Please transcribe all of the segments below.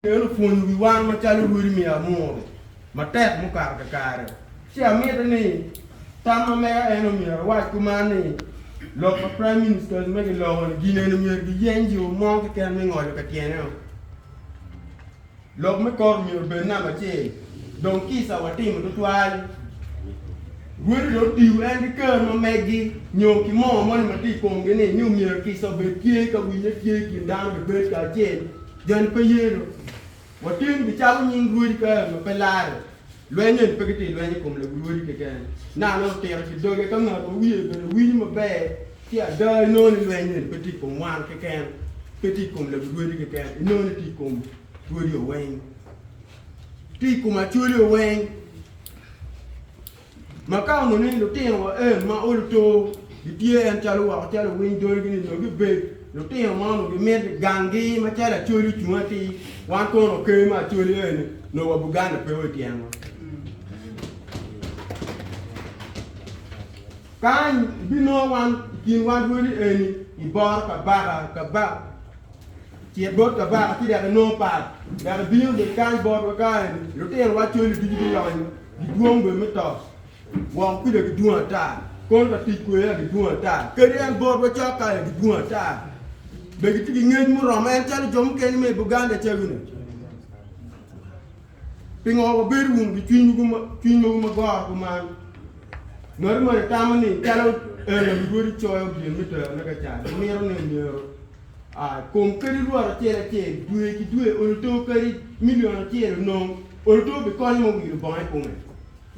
En opwonyo wi wan macalo lwodi me amuru matek mukato kakare. Ci amiti ni tam ma mega en omyero ewac kuman ni, Lok ma Prime Ministers me giloko-ni gineni myero giyeny jo mo keken me ngolo ka tyene-o. Lok me kor omyero obed namba acel. Dong kica watimo tutwal. Lwodi dong otiyo en ki ker ma megi nyo ki moo moni ma tye i komgi-ni ni omyero kica obed tye ka winye tye i kin dano bebed kacel. Joni pe ye do. Wateni bi calo nying rwodi ka ma pe lare. Lweny eni pe giti lweny i kom lebu rwodi keken. Naka nongo tira ki doge ka ngat ma wiye bene winyo maber ki ada inongo ni lweny eni pe ti i kom wan keken, pe ti i kom lebu rwodi keken, inongo ni ti i kom rwodi oweng. Ti i kom acoli oweng. Ma ka onongo ni lutino wa en ma olo too gitye en calo wako calo owiny dolgi ni nongo gibed lutino ma onongo gimiti gangi ma calo Acholi ocung atir wan kono wa ker ma Acholi eni nongo wa Buganda pe wa ityen wa. Kany ibinongo wan ikin wan rwodi eni iboro kabaka kaba cit bot kabaka ci dok inongo pat dok ibino bene kany botwa ka eni lutino wa Acholi ducu gilonyo Gidwong bene me to woko kuca gidwong ata, kono ka tic kwede aye gidwong ata. Kadi en botwa cok ka aye gidwong ata. Be gitye ki ngec muromo en calo jo mukene me i Buganda caguni? Pingo wabedo wunu ki cwiny ma wumagoro kuman? Ngati moni tamo ni calo en aye Rwodi coyo gin me terone ka cat, wamito ni myero A Kom kadi lworo acel acel dwe ki dwe olo too kadi milion acel onong olo too bikonyo me wilo bongo i kome.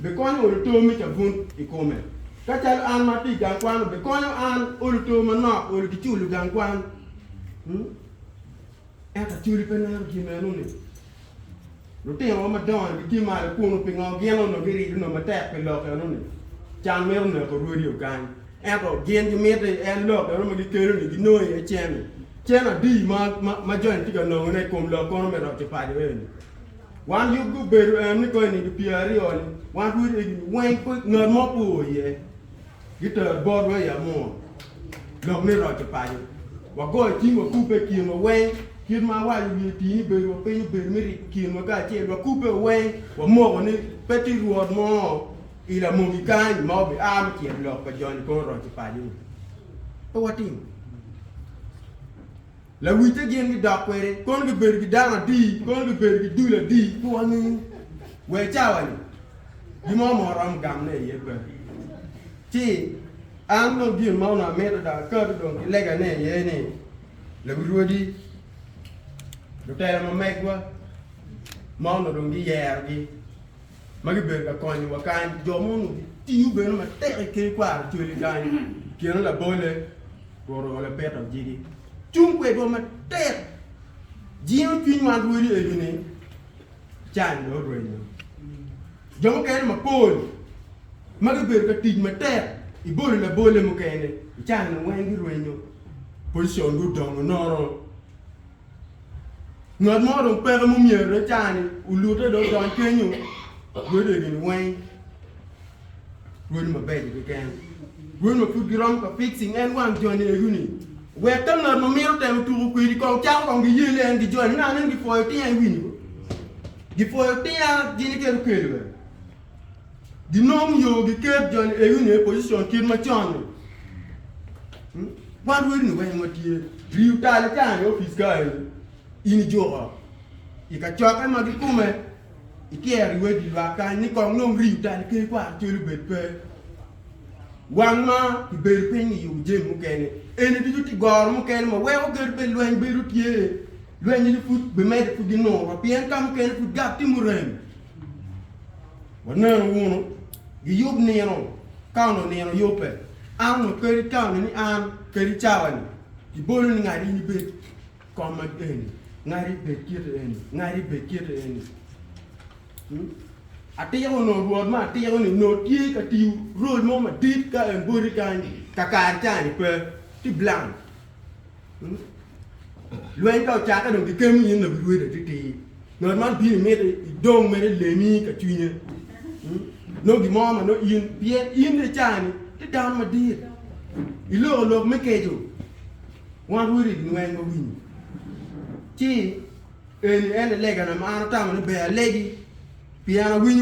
Bikonyo olo too me cabun i kome. Ka calo an ma atye i gang kwan bikonyo an olo too manok olo ki culo gang kwan. Ento Acholi pe neno gin meno ni. Lutinowa madongo-ni gitye malo kunnu. Pingo gin onongo girido nongo matek pi lok enoni? Can mito neko rwodi ogang. Ento gin gimito ni en lok eno ma gikelo-ni ginong iye cen-ni. Cen adi ma joni tye ka nongone i kom lok kono me roco paco eni? Wan yubgi obedo eno ni kong i nino pyeraryo-ni, wan rwodi egini weng pe ngat mo pe oo iye. Giter botwa i amur lok ni roco paco. Wagoyo cing wakubbe i kinwa weng, kit ma awaco wiye tii ni bedo wa piny obedo me riko kinwa kacel. Wakubbe wa weng wamoko ni pe tye rwot mo i lamogi kany ma obi aa me cito lok pa jony i kor roco paco ni. Pe watimo. Lawitte gin gidok kwede, kono gibedo ki dano adi, kono gibedo ki dul adi ki wanggi? Wa i cawa-ni, gin mo ma waromo gamone iye pe. Ci, an dong gin ma onongo amito dok akato dong ki legane iye ni, lawirwadi, lutela ma megwa ma onongo dong giyerogi, ma gibedo ka konyowa kany. Jo mo onongo gitiyo bene matek i ker kwaro cwale kany, kine labolle, Rwot Labita ojiki cung kwedwa matek. Jingo cwiny wan rwodi eni ni can dong orwenyo. Jo mukene mapol ma gibedo ka tic matek i bolo labolle mukene i can-ni weng girwenyo, pocicongi odongo nono. Ngat mo dong peke ma omyere cani olute dong odony kenyo rwede gini weng rwed mabeco keken rwed ma pud giromo ka fixing en wang joni egu ni wek ka ngat ma mito temo tuko kwedi kong cako kong giye ni en gijony me neno ni gifoyo tinga iwinyi bo gifoyo tinga gini kit okelo bene ginong yo giket joni egi onyo i position kit macon-ni, wan rwedini weng watye riyo tal icango i opic ka eni in ijuko i kacokke ma gikume ityero i wedi lwak kany ni kong nong riyo tal iker kwaro col obed pe, wan ma kibedo piny i yubo jami mukene eni ducu tye goro mukene ma weko gedo bed lweny bedo tye, lweny-ni pud bimedde pud ginuro pien kamukene pud gap tye murem. Waneno wunu, giyub nino, ka onongo nino yubbe, an onongo kadi tammi ni an kadi cawa-ni kibolo ni ngati in ibed kom ma eni, ngati ibed kiti eni, ngati ibed kiti eni. Atiko onongo Rwot ma atiko-ni onongo tye ka tiyo rol mo madit ka en boti kany kakare ca-ni pe, ti bilang. Lweny ka ocakke dong kikemo in labidwedi atitir. Ngat man bino miti idong mere lemi ka cwinye. Nongo gin mo ma nongo in pien in icani ti dano madit. Iloko lok me keco. Wan rwodi inweng wawinyo. Ci eni en alegana ma an atamo ni ber alegi pien awinyo